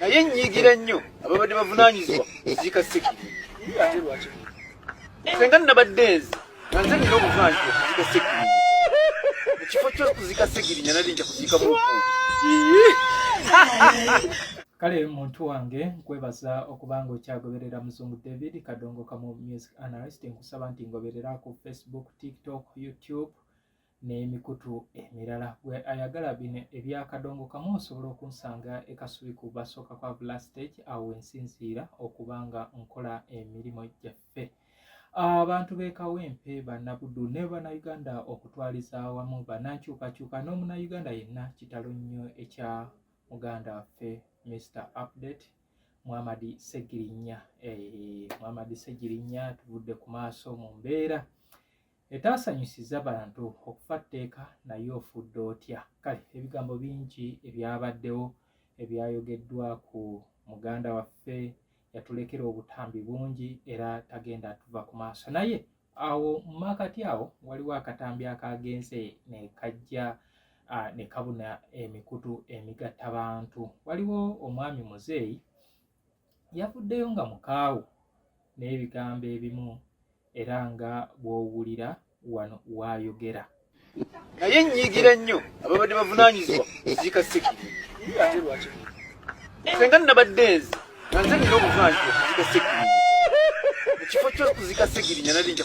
naye nyigira nnyo ababadde bavunanyizibwa ziika sekiri ate lwaki senga nabadde nze nanze nina obuvanyizibwa kuzika sekiri ekifo kyokuzika sekiri nyanali nja kuzika mu kale muntu wange nkwebaza okuba nga okyagoberera muzungu david kadongo kamu music analyst nkusaba nti ngoberera ku facebook tiktok youtube n'emikutu emirala gwe ayagala bino ebya kadongo kamu osobola okunsanga e kasubi ku basooka kwa bula stage awo wensinziira okuba nga nkola emirimu gyaffe abantu b'e kawempe bannabuddu ne bannayuganda okutwaliza awamu bannankyukakyuka n'omunayuganda yenna kitalo nnyo ekya muganda waffe mr update muhamadi segirinya eh, muhamadi segirinya tuvudde ku maaso mu mbeera etaasanyusiza bantu okufa tteeka naye ofudde otya kale ebigambo bingi ebyabaddewo ebyayogeddwa ku muganda waffe yatulekera obutambi bungi era tagenda atuva ku maaso naye awo mu maakati awo waliwo akatambi akaagenze ne kajja ne kabuna emikutu emigatta bantu waliwo omwami muzeeyi yavuddeyo nga mukaawu n'ebigambo ebimu era nga bw'owulira wano waayogera naye nnyiigira nnyo ababadde bavunaanyizibwa ekiika sekiri ate lwaki senga nnabadde nze nga nze nina obuvunaanyizibwa ekiika sekiri mu kifo ky'okuzika segirinya nali nja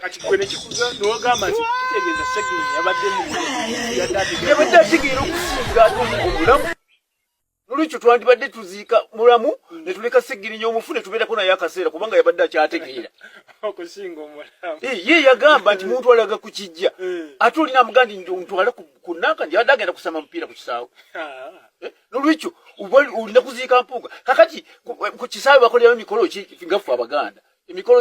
kati gwe nekikuza nogamba nti kitegeeza segini yabadde muyabadde ategeera okusinga ate omulamu nolwekyo twandibadde tuziika mulamu netuleka segirinya omufu netubeerako naye akaseera kubanga yabadde akyategeera ye yagamba nti muntu alaga ku kijja eh. ate olina amugaa ndi ntwale ku nanka ndi abadde agenda kusamba mupiira ku kisaawe ah. eh, nolwekyo olina kuziika mpuuga kakati ku kisaawe bakolerayo mikolo kigaffe abaganda emikolo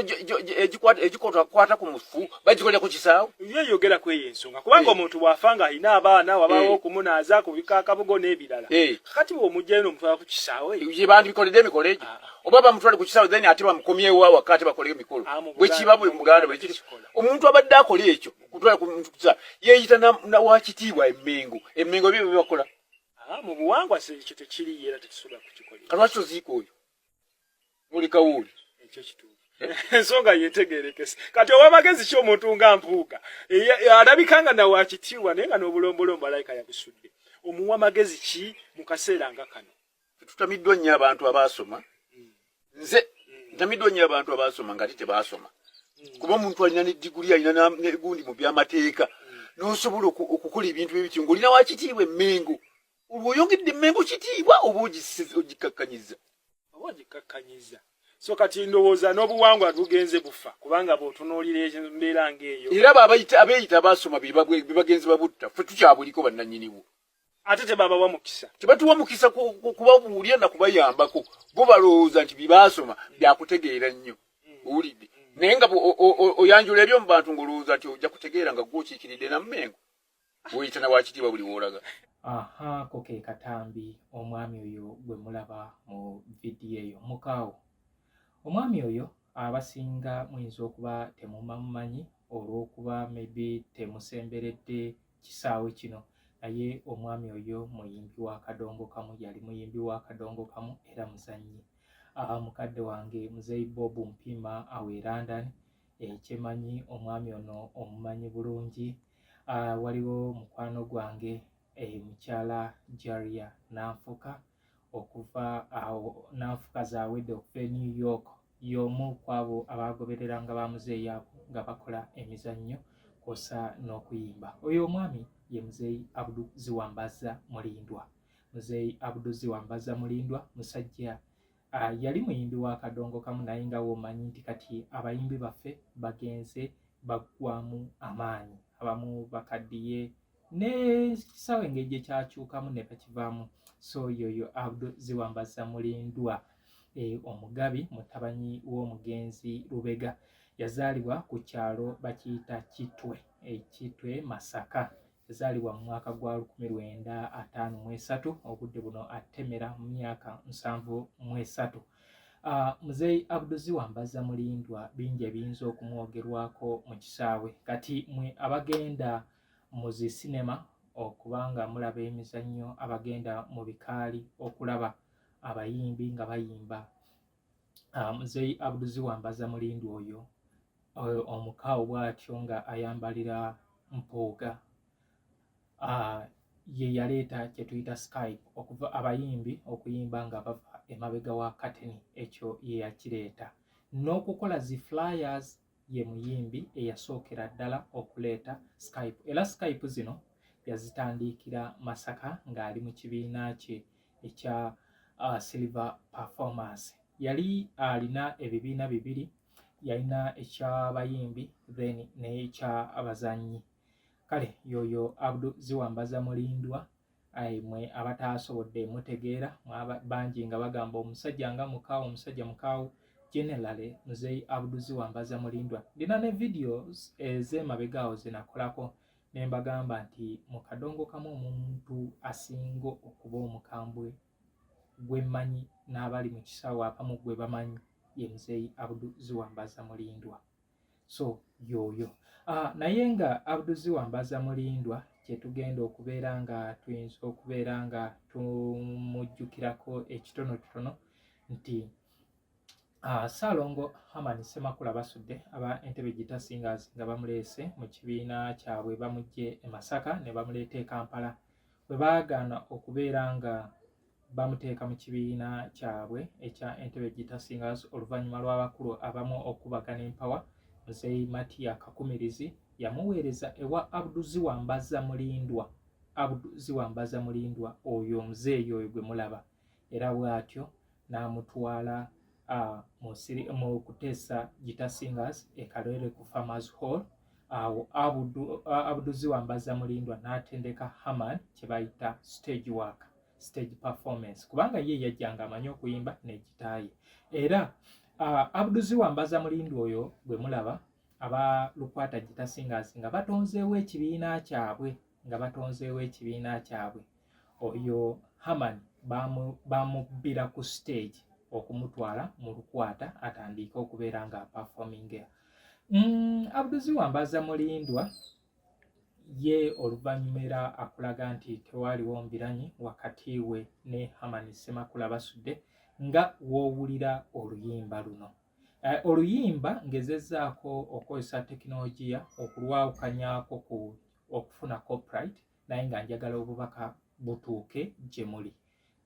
egikwata ku mufu bagikolera ku kisaawe ye yogera ku eyo ensonga kubanga eh. omuntu bw'afa nga alina abaana wabaawo eh. okumunaaza kubika akabugo n'ebirala eh. kati bw'omugyayo n'omutwala ku kisaawe ye bandibikoledde emikolo egyo ah. oba bamutwale ku kisaawe then ate bamukomyewo awaka ate bakoleyo emikolo ah, bwe kiba buli muganda bwe kiri omuntu abadde akola ekyo kutwala ku muntu ku kisaawe yeeyita wakitiibwa emmengo emmengo ebyo bye bakola ah, mu buwangwa ekyo tekiriyo era tekisobola kukikola kalwaki oziika oyo muli kawuuli ekyo kituufu ensonga yetegerekese kati owa magezi ki omuntu nga mpuuga alabika nga nawe akitiibwa naye nga n'obulombolombo alayika yabusudde omuwa magezi ki mu kaseera nga kano tutamiddwa nnyo abantu abaasoma hmm. nze hmm. ntamiddwa nnyo abantu abaasoma nga tete baasoma hmm. kuba omuntu alina ne diguli alina negundi mu byamateeka n'osobola okukola ebintu bye bityo ng'olina wakitiibwa emmengo olwo oyongedde mmengo kitiibwa oba ogikakkanyiza oba ogikakkanyiza so kati ndowooza n'obuwangwa bugenze bufa kubanga bw'otunuulira embeera ng'eyo era abeeyita abaasoma bebagenzi babutta ffe tukyabuliko bannannyinibwo ate tebabawa mukisa tebatuwa mukisa kubabuulira na kubayambako bo balowooza nti byebaasoma byakutegeera nnyo mm. owulidde mm. naye nga oyanjula ebyo mu bantu ng'olowooza nti ojja kutegeera nga gwokiikiridde nammengo woyita na wakitiibwa buli woolaga aha ko ke katambi omwami oyo gwe mulaba mu vidiyo eyo mukaawo omwami oyo abasinga muyinza okuba temumamumanyi olw'okuba maybe temusemberedde kisaawe kino naye omwami oyo muyimbi wa kadongo kamu yali muyimbi wa kadongo kamu era muzannyi mukadde wange muzeyi bob mpiima awe london ekyemanyi omwami ono omumanyi bulungi uh, waliwo mukwano gwange eh, mukyala jaria nanfuka okuva awo uh, nanfuka zawedde okuva e new york y'omu kwabo abagoberera nga bamuzeeyi abo nga bakola emizannyo kwosa n'okuyimba oyo omwami ye muzeeyi abdu ziwambaza mulindwa muzeeyi abdu ziwambaza mulindwa musajja Uh, yali muyimbi wa kadongo kamu naye nga womanyi nti kati abayimbi baffe bagenze baggwamu amaanyi abamu bakaddiye nekisaawe engeri gye kyakyukamu ne bakivaamu so yoyo abdu ziwambaza mulindwa e, omugabi mutabanyi w'omugenzi lubega yazaalibwa ku kyalo bakiyita kitwe ekitwe masaka yazaalibwa mu mwaka gwa lukumi lwenda ataano mu esatu obudde buno atemera mu myaka nsanvu mu esatu ah, muzeeyi abduzi wambaza mulindwa bingi ebiyinza okumwogerwako mu kisaawe kati mwe abagenda mu zi sinema okubanga mulaba emizannyo abagenda mu bikaali okulaba abayimbi nga bayimba ah, muzeeyi abduzi wambaza mulindu oyo eh, omukaawo bwatyo nga ayambalira mpuuga ah, ye yaleeta kyetuyita skype okuva abayimbi okuyimba nga bava emabega wa kateni ekyo ye yakireeta n'okukola zi flyers ye muyimbi eyasookera ddala okuleeta Skype era Skype zino yazitandiikira Masaka ng'ali mu kibiina kye ekya uh, Silver Performance. Yali alina ebibiina bibiri, yalina eky'abayimbi then n'eky'abazannyi. Kale yoyo Abdu Ziwambaza Mulindwa ayi mwe abataasobodde mutegeera bangi nga bagamba omusajja nga mukaawo omusajja mukaawo generally muzeeyi abduzi wambaza mulindwa ndina ne videos ez'emabegaawo zenakolako ne mbagamba nti mu kadongo kamu omuntu asinga okuba omukambwe gwe mmanyi n'abali mu kisaawe abamu gwe bamanyi ye muzeeyi abduzi wambaza mulindwa so yooyo ah, naye nga abduzi wambaza mulindwa kyetugenda okubeera nga tuyinza okubeera nga tumujjukirako ekitonotono nti ah, saalongo haman semakula basudde aba entebe gita singers nga bamuleese mu kibiina kyabwe bamujje e masaka ne bamuleeta e kampala bwe baagaana okubeera nga bamuteeka mu kibiina kyabwe ekya Entebbe Guitar Singers oluvannyuma lw'abakulu abamu okubagana empawa Muzeeyi Matiya Kakumirizi yamuweereza ewa Abdu Ziwambaza Mulindwa Abdu Ziwambaza Mulindwa oyo muzeeyi oyo gwe mulaba era bw'atyo n'amutwala mu kuteesa Guitar Singers e Kalwere ku Farmers Hall awo Abdu Ziwambaza Mulindwa n'atendeka Haman kye bayita stage worker stage performance kubanga ye yajjanga amanyi okuyimba nekitaaye era uh, abduzi wambaza mulindi oyo gwe mulaba aba lukwata gita singers nga batonzeewo ekibiina kyabwe nga batonzeewo ekibiina kyabwe oyo haman bamubbira ku stage okumutwala mu lukwata atandiike okubeera nga aperforming mm, abduzi wambaza mulindwa ye oluvannyuma era akulaga nti tewaaliwo mbiranyi wakati we ne hamani semakula basudde nga w'owulira oluyimba luno eh, oluyimba ngezezzaako okukozesa tekinologiya okulwawukanyaako ku okufuna copyright naye nga njagala obubaka butuuke gye muli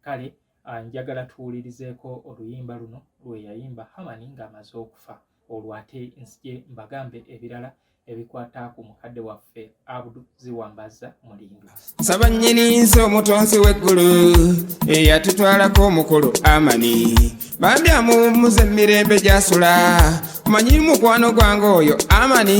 kale ah, njagala tuwulirizeeko oluyimba luno lwe yayimba hamani ng'amaze okufa olwo ate nsije mbagambe ebirala ebikwata ku mukadde waffe abudu ziwambaza mulindu nsaba nnyini nsi omutonzi w'eggulu eyatutwalako omukulu amani bambi amuwummuza emirembe gyasula manyi mukwano gwange oyo amani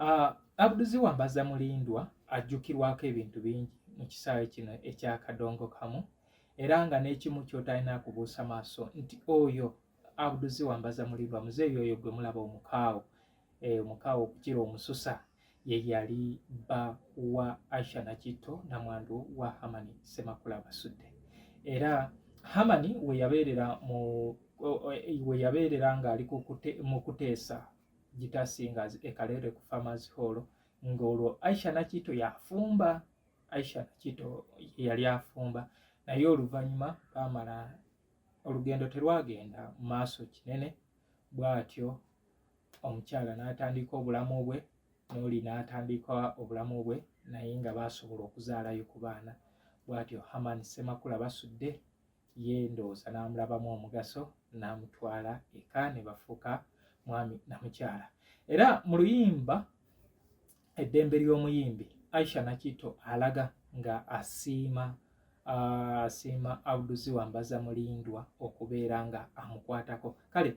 Uh, Abduzi Wambaza Mulindwa ajjukirwako ebintu bingi mu kisaawe kino ekya kadongo kamu era nga n'ekimu kyotalina kubuusa maaso nti oyo Abduzi Wambaza Mulindwa muzeeyi oyo gwe mulaba omukaawo eh, omukaawo okukira omususa ye yali bba wa Aisha Nakitto namwandu wa Hamani Semakula Basudde era Hamani we yabeerera mu we yabeerera ng'ali mu kuteesa Gita Singers e Kaleere ku Farmers Hall ng'olwo Aisha Nakito yafumba Aisha Nakito yali afumba naye oluvannyuma baamala olugendo terwagenda mu maaso kinene bw'atyo omukyala n'atandika obulamu bwe n'oli n'atandika obulamu bwe naye nga baasobola okuzaalayo ku baana bw'atyo Herman Ssemakula Basudde ye ndowooza n'amulabamu omugaso n'amutwala eka ne bafuuka mwami na mukyala era mu luyimba eddembe ly'omuyimbi aisha nakito alaga nga asiima asiima auduzi wambaza mulindwa okubeera nga amukwatako kale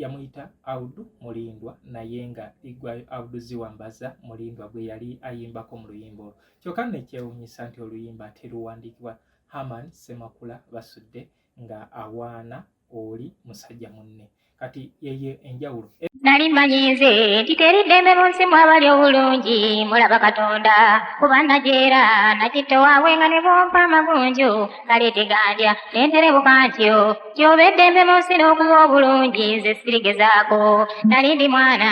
yamuyita audu mulindwa naye nga igwayo auduzi wambaza mulindwa gwe yali ayimbako mu luyimba olwo kyokka nekyewunyisa nti oluyimba teruwandiikibwa Haman Semakula Basudde nga awaana oli musajja munne kati yeye enjawulo nali mmanyiize nti teri ddembe mu nsi mwabali obulungi mulaba katonda kuba najeera nakitta waawe nga ne bwompa amagunju kale tegandya nenterebuka ntyo kyoba eddembe mu nsi n'okuba obulungi nze sirigezaako nali ndi mwana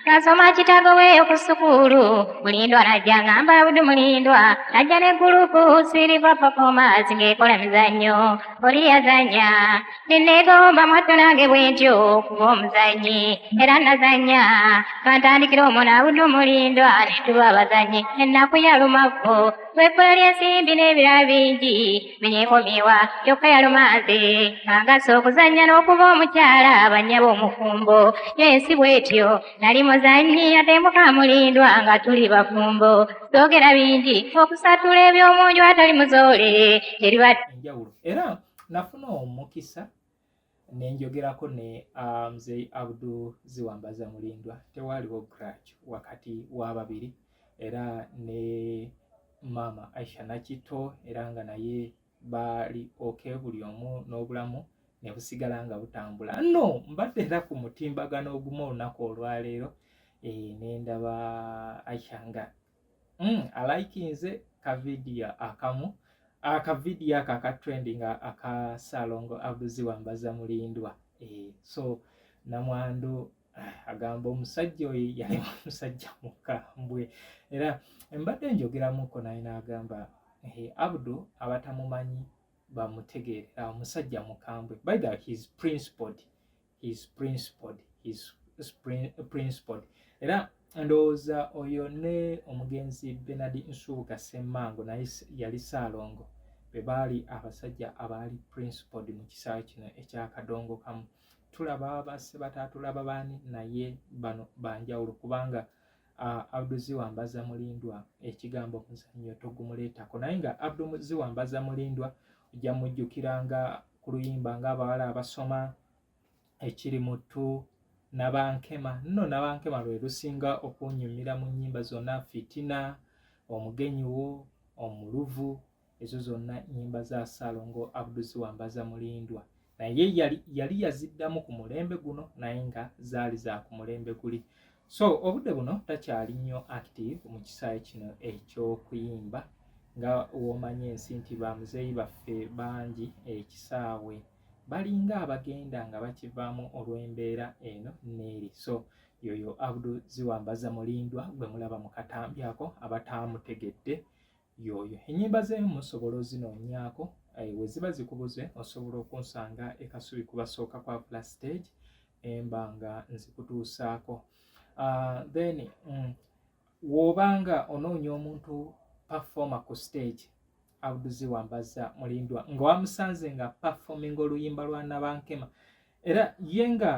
Nasoma kitabo weeyo ku sukuulu mulindwa najja ngamba abudu mulindwa najja ne gulupu siriva performers ng'ekola mizannyo oli yazannya nenneegomba mwatto nange bwentyo kuba omuzannyi era nazannya twantandikira omwo naabudu mulindwa ne tuba abazannyi ennaku yalumavvu lw'ekkula ly'ensimbi n'ebirala bingi neyekomyewa kyokka yalumanze ng'agasa okuzannya n'okuba omukyala bannyaba omufumbo yo ensi bwetyo nali muzannyi ate mukamulindwa nga tuli bafumbo soogera bingi okusatula eby'omunju atali muzoole teriba enjawulo era nafuna omukisa nenjogerako ne uh, mzei abdu ziwambaza mulindwa tewaaliwo grach wakati wababiri era ne maama aisha nakitto era nga naye baali oke buli omu n'obulamu nebusigala nga butambula no mbadde era ku mutimbagano ogumu olunaku olwaleero e, nendaba aisha nga mm, alaikinze ka vidiyo akamu aka ah, vidiyo ako aka trending ah, aka salongo abuzi wambaza mulindwa eh, so namwandu ah, agamba omusajja oyo yali omusajja mukambwe era embadde njogeramuko naye nagamba eh, abdu abatamumanyi bamutegeerera omusajja mukambwe by the his principled he is principled he is principled era ndowooza oyo ne omugenzi benard nsubuga semmango naye yali saalongo be baali abasajja abaali principled mu kisaawe kino ekyakadongo kamu tulaba basse bataatulaba baani naye bano banjawulo kubanga uh, Abdu Ziwambaza Mulindwa ekigambo muzannyo togumuleetako naye nga Abdu Ziwambaza Mulindwa ojja mujjukira nga ku luyimba ng'abawala abasoma ekiri mutu nabankema nno nabankema lwe lusinga okunyumira mu nnyimba zonna fitina omugenyi wo omuluvu ezo zonna nyimba za salongo abduziwambaza mulindwa naye yali, yali yaziddamu ku mulembe guno naye nga zaali za ku mulembe guli so obudde buno takyali nnyo active mu kisaawe kino ekyokuyimba nga womanyi ensi nti bamuzeeyi baffe bangi ekisaawe eh, balinga abagenda nga bakivaamu olw'embeera eno neeri so yoyo abdu ziwambaza mulindwa gwe mulaba mu katambi ako abataamutegedde yooyo enyimba ze musobola ozinoonyaako eh, weziba zikubuze osobola okunsanga ekasubi kubasooka kwa pla stage emba nga nzikutuusaako ah, then mm, wobanga onoonya omuntu performa ku stage abuduzi wambaza mulindwa nga wamusanze nga performing oluyimba lwa nabankema era ye nga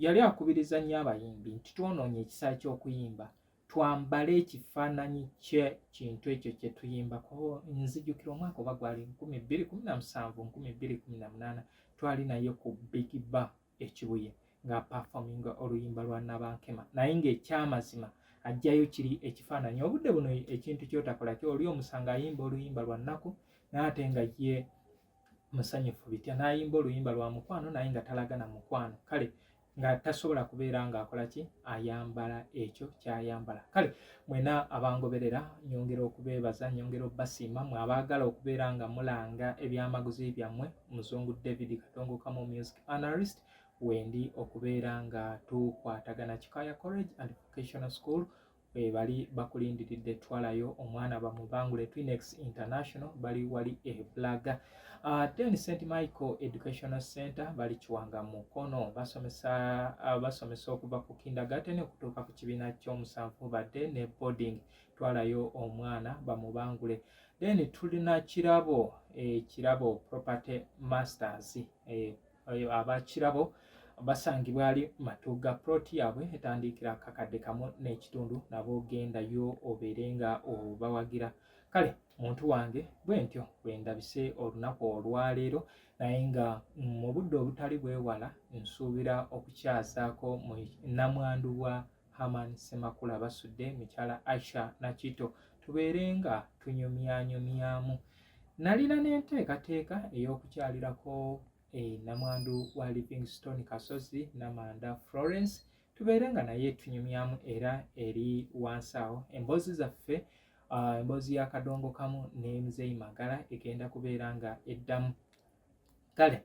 yali akubiriza nnyo abayimbi nti twonoonye ekisa ky'okuyimba twambale ekifaananyi kye kintu ekyo kye tuyimbako nzijukira omwaka oba gwali nkumi bbiri kumi na musanvu nkumi bbiri kumi na munaana twali naye ku big ba ekibuye nga perfominga oluyimba lwa nabankema naye ngaekyamazima ajjayo kiri ekifaananyi obudde buno ekintu kyotakola ky oli omusanga ayimba oluyimba lwa nnaku naate nga ye musanyufu bitya nayimba oluyimba lwa mukwano naye nga talaga na mukwano kale nga tasobola kubeera ng'akola ki ayambala ekyo kyayambala kale mwena abangoberera nyongera okubeebaza nyongera okubasiima mwe abaagala okubeera nga mulanga ebyamaguzi byammwe muzungu david katongokamu music analyst wendi okubeera nga tukwatagana kikaya college and vocational school bali bakulindiridde twalayo omwana bamubangule twinex international bali wali ebulaga uh, then st michael educational center bali kiwanga mukono basomesa uh, basomesa okuva ku kindergarten okutuuka ku kibiina kyomusanvu badde ne boarding twalayo omwana bamubangule then tulina kirabo ekirabo eh, property masters eh, abakirabo basangibwa ali matuga plot yaabwe etandiikira kakadde kamu n'ekitundu nabo gendayo obeere nga obawagira kale muntu wange bwe ntyo bwe ndabise olunaku olwaleero naye nga mu budde obutali bwewala nsuubira okukyazaako mu namwandu wa Haman Semakula basudde mukyala Aisha Nakito tubeere nga tunyumyanyumyamu. Nalina n'enteekateeka ey'okukyalirako e namwandu wa Livingstone Kasozi Namanda Florence tubeere nga naye tunyumyamu era eri wansi awo emboozi zaffe ah, emboozi ya kadongo kamu ne muzeeyi magala egenda kubeera nga eddamu kale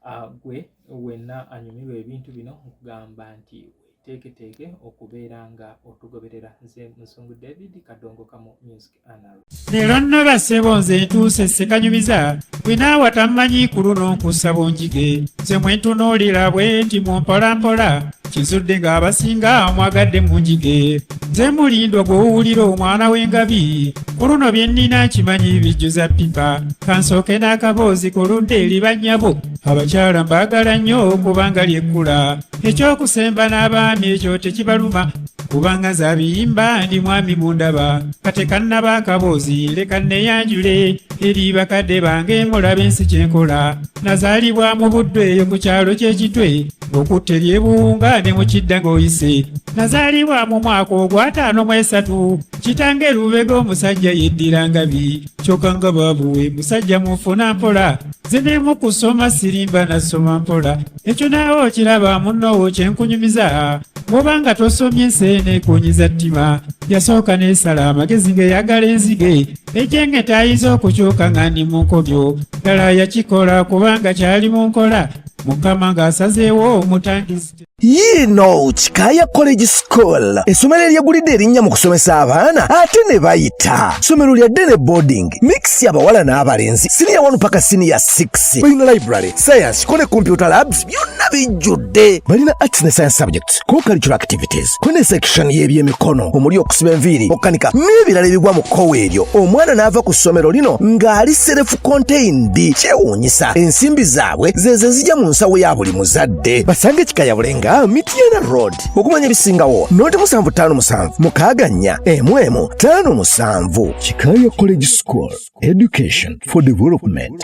ah, gwe wenna anyumirwa ebintu bino nkugamba nti teeketeeke okubeera nga otugoberera nze musungu david kadongo kamu music anal leero nno basebo nze ntuuse sekanyumiza bwinaawa tammanyi ku luno nkussa bunjige nze mwentunuulira bwe nti mu mpolampola kizudde ng'abasinga mwagadde mu njige nze mulindwa gw'owulira omwana w'engabi ku luno bye nnina nkimanyi bijjuza ppipa kansooke n'akaboozi ku ludda eri bannyabo abakyala mbaagala nnyo kubanga lyekkula ekyokusemba n'abaami ekyo tekibaluma kubanga zabiyimba ndi mwami mundaba katekannaba akaboozi leka neyanjule eri bakadde bange mulabe ensi kyenkola nazaalibwa mu buddu eyo ku kyalo ky'ekitwe okutta ebyebunga ne mu kidda ng'oyise nazaalibwa mu mwaka ogwataano mu esatu kitange lubega omusajja yeddira ngabi kyokka nga baabuwe musajja mufuna mpola zinemu kusoma sirimba nasoma mpola ekyo naawe okiraba munnoowo kyenkunyumiza bwoba nga tosomye enseene kunyiza ttima yasooka n'esala amagezi ng'eyagala enzige ekyenge tayinza okukyuka nga ndi mu nkobyo ddala yakikola kubanga kyali mu nkola mukama ng'asazeewo omutangizi yiino kikaaya college school essomero eryegulidde erinnya mu kusomesa abaana ate ne bayita ssomero lya dene boarding mix abawala n'abalenzi siniya 1 paka siniya 6 balina library science ko ne computer labs byonna bijjudde balina arts ne science subjects co-cultural activities kune section y'ebyemikono omuli okusiba enviiri okukanika n'ebirala ebigwa mu kkowe eryo omwana n'ava ku ssomero lino ng'ali serefu contained kyewuunyisa ensimbi zaabwe zezo ezija mu nsawo ya buli muzadde basange kikayabule nga mityana road okumanya ebisingawo noti musanvu ttaano musanvu mukaaga nnya emu emu ttaano musanvu kikaya college school education for development